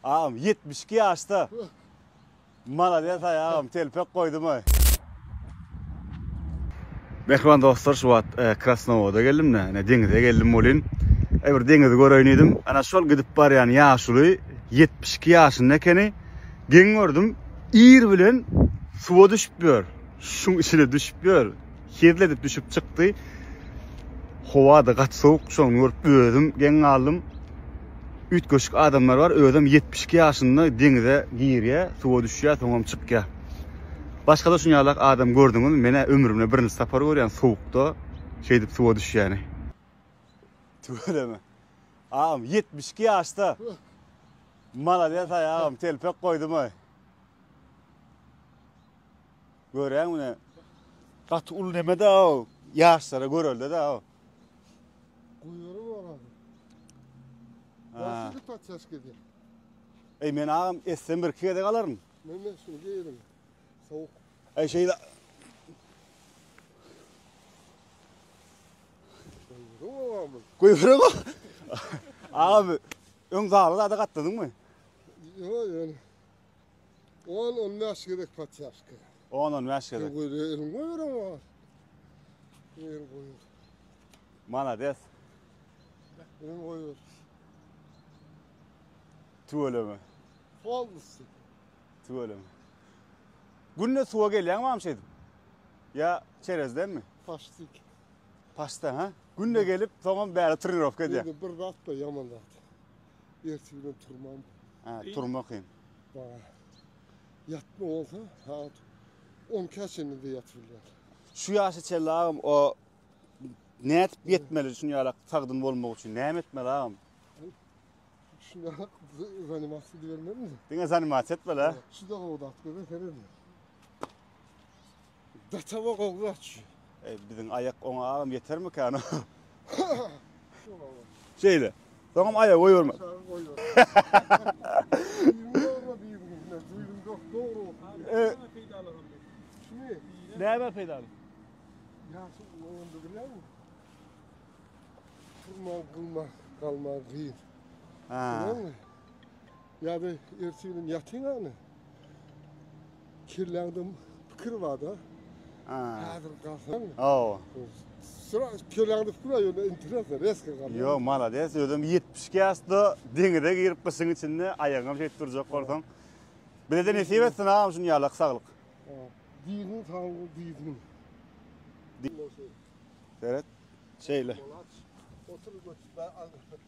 Agam ýetmiş iki ýaşda malades aý agam telpek goýdumaý. Mähriban dostlar şu wagt Krasnowoda geldim da ine deňize geldim welin aý bir deňizi göreýin diýdim ana şol gidip barýan ýaşuly ýetmiş iki ýaşynda ekeni geň gördüm ir bilen suwa düşüp ýör şuň içine düşüp ýör. Hezil edip düşüp çykdy. Howa-da gaty sowuk, şony görüp özüm geň galdym. Üýtgeşik adamlar bar, özem ýetmiş iki ýaşynda deňize girýär, suwa düşýär, soňam çykýar. Başga-da şuny ýalak adam gördüňizmi? Men-ä ömrümde birinji sapar görýän sowukda şeýdip suwa düşýäni. Tüweleme. Agam, ýetmiş iki ýaşda. Malades-aý agam, telpek goýdum-aý. Göräň mine gaty uly nemede o ýaşlara görelde de o. Guýury bolan. Ha. Başyny patçaş gedi. Ey men agam etsem bir iki gezek alaryn. Men men şunu geýerin. Sowuk. Ey şey da. Guýury bolan. Agam öň zaly zada gatladyňmy? Ýok ýöne. On, on bäş gezek patýaşka. On, on bäş gezek. Göze elin goýar oňa. Elin goýar. Malades. Elin goýar. Tüweleme. Folmsy. Tüweleme. Günde suwa gelýäňmi am şeýdip? Ýa çerezdenmi? Paştik. Paşta ha? Günde gelip, soňam bäri trenirowka edýär. Indi bir zat da ýaman zat. Ertir bilen turmam. Ha, turma kyn. Ba. Ýatma bolsa, saat 10-ka çenli de ýatyp bilýär. Şu ýaşa çenli agam o nädip ýetmeli şun ýalak sagdyn bolmak üçin näme etmeli agam? Şun ýalak zanimasiýa edibermeli. Diňe zanimasiýa etmeli. Şu da gowda atmeli, seret. Datawa gowy gaçýa. Eý biziň aýak oňa agam ýetermikäno. Şeýle. Soňam aýak goýberme. Näme peýdaly? Ýaşyl onda bilenmi? Turma gulma galma gyz. Ha. Ýa-da ertirgin ýatyňamy? Kelläňde pikir barda. Häzir galsaň. Aw. Şura kelläňde pikir bar ýöne interesno reska galýar. Ýo, malades, özüm 70 ýaşda deňize girip gyşyň içinde aýagyňam şeýdip durjak bolsaň. Bizede nesip etsin agam şun ýalak saglyk. Diniň saglygy diýdim. Seret. Şeýle. Otur götür.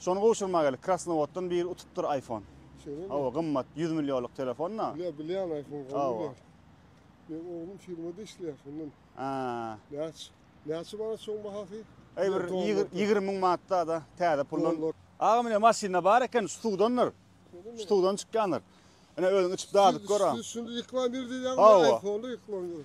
Şony gowşurma gerek krasnowoddan biri utupdyr ayfon. Şeýlemi? Hawa gymmat 100 millionlyk telefon da. Bilýän bilýän ayfon gowy. Men oglum firmada işleýär şondan. Aa. Näç? Näçe manat şoň bahasy? Eý bir 20 müň manatda da täze puldan. Aga mine maşynda bar eken şu suwdandyr. Şu suwdan çykýandyr. Ine özüň içip dadyp gör. Şunda reklam ýer diýýäňmi? Hawa. Şunda reklam ýer.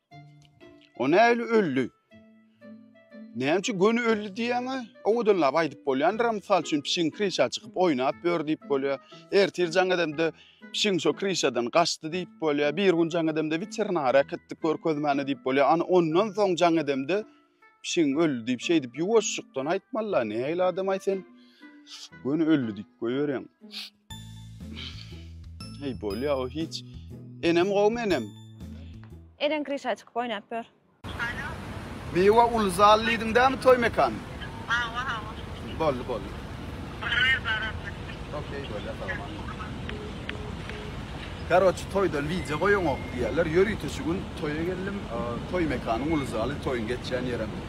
O näli öldi? Näme üçin göni öldi diýäňe? Owadanlap aýdyp bolýandyr, mysal üçin pişigiň krişa çykyp oýnap ýör diýip bolýar. Ertir jaň edemde pişigiň şo krişadan gaçdy diýip bolýar. Bir gün jaň edemde weterinara äkitdik görkezmäne diýip bolýar. Ana ondan soň jaň edemde pişigiň öldi diýip şeýdip ýuwaşjykdan aýtmaly. Näli adam aý sen? Göni öldi diýip goýberýäň. Heý bolýa o hiç. Enem gowmy enem. Eneň kryşa çykyp oýnap ýör. Alo. Miwa uly zal diýdiň dämi toý mekany. Hawa hawa. Boldy boldy. Baryber bararsyň. Okey bolýa salam. Karoçi toýdan wideo goýaňok diýýärler. Ýörite şu gün toýa geldim. Toý mekanyň uly zaly toýuň geçýän ýerem.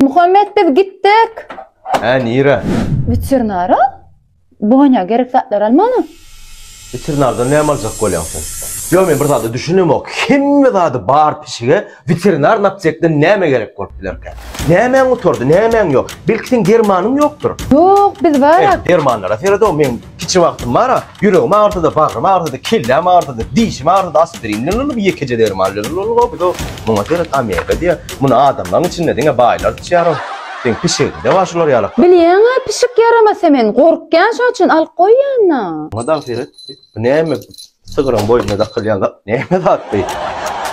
Muhammet biz gitdik. Hä nirä? Weterinara Boňa gerek zatlary almaga. Weterinardan näme aljak bolýaň sen? Ýok men bir zada düşünemok. Hemme zady bar pişige. Weterinar naptekden näme gerek bolup bilerkä? Nämäň gutardy, nämäň ýok? Belki seň dermanyň ýokdur? Ýok, biz bar-a. Eh, dermanlara seret-ow, meň kiçi wagtym bar-a. Ýüregim agyrsa-da, bagrym agyrsa-da, kelläm agyrsa-da, dişim agyrsa-da aspirin bilen ol ýekeje derman bilen ol-ol-ow biz-ow. Muňa seret, omega diýýär. Muny adamlaryň içinde diňe baýlar içýär-ow. Seň pişigiňde bar şular ýalaklar. Bilýäň-ä, pişik ýaramasa men gorkýan şoň üçin alyp goýýan-a. Muňa dagy seret. Bu näme? Sygyryň boýnuna dakylýan zat näme zatdy?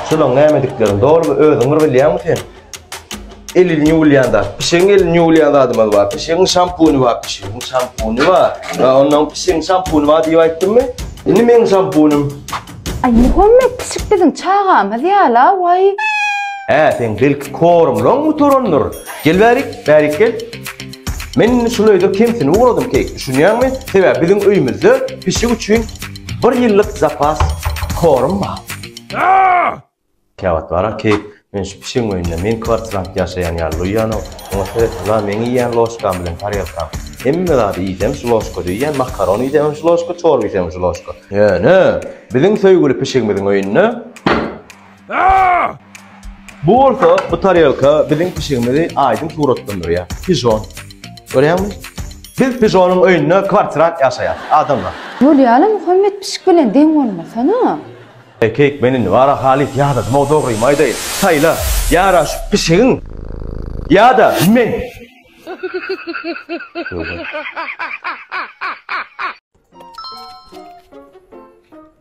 Şulaň nämediklerini dolumy özüň bir bilýäňmi sen? Elini ýuwulýan zat. Pişigiň elini ýuwulýan zadymyz bar. Pişigiň şampuny bar. Pişigiň şampuny bar. Ýa ondan pişigiň şampuny bar diýip aýtdymmy? Indi meniň şampunym. Aý Muhammet pişik biziň çagamyz ýala waý. Hä sen belki kormlaň gutarandyr. Gel bärik, bärik gel. Men şul öýde kemsini ugradym Keýk, düşünýäňmi? Sebäbi biziň öýümizde pişik üçin bir ýyllyk zapas korm bar. Käwagt bar-a, Keýk, men şu pişigiň öýünde meň kwartirant ýaşaýan ýaly duýýan-ow. Oňa seretsizlaa meň iýýän ložkam bilen tarelkam. Hemme zady iýsem şu ložkada iýýän, makaron iýsemem şu ložka, çorba iýsemem şu ložka. Ýöne biziň söýgüli pişigimiziň öýünde. Bu bolsa bu tarelka biziň pişigimizi aýdyň suratlandyrýar. Pijon. Görýäňmi? Biz pijonyň öýünde kwartirant ýaşaýar. Adamlar. Bolýaly Muhammet pişik bilen deň bolmasana. Ekeýik men indi wara halys ýadadym-ow dogrymy aýdaýyn. Saýla, ýara şu pişigiň ýa-da men.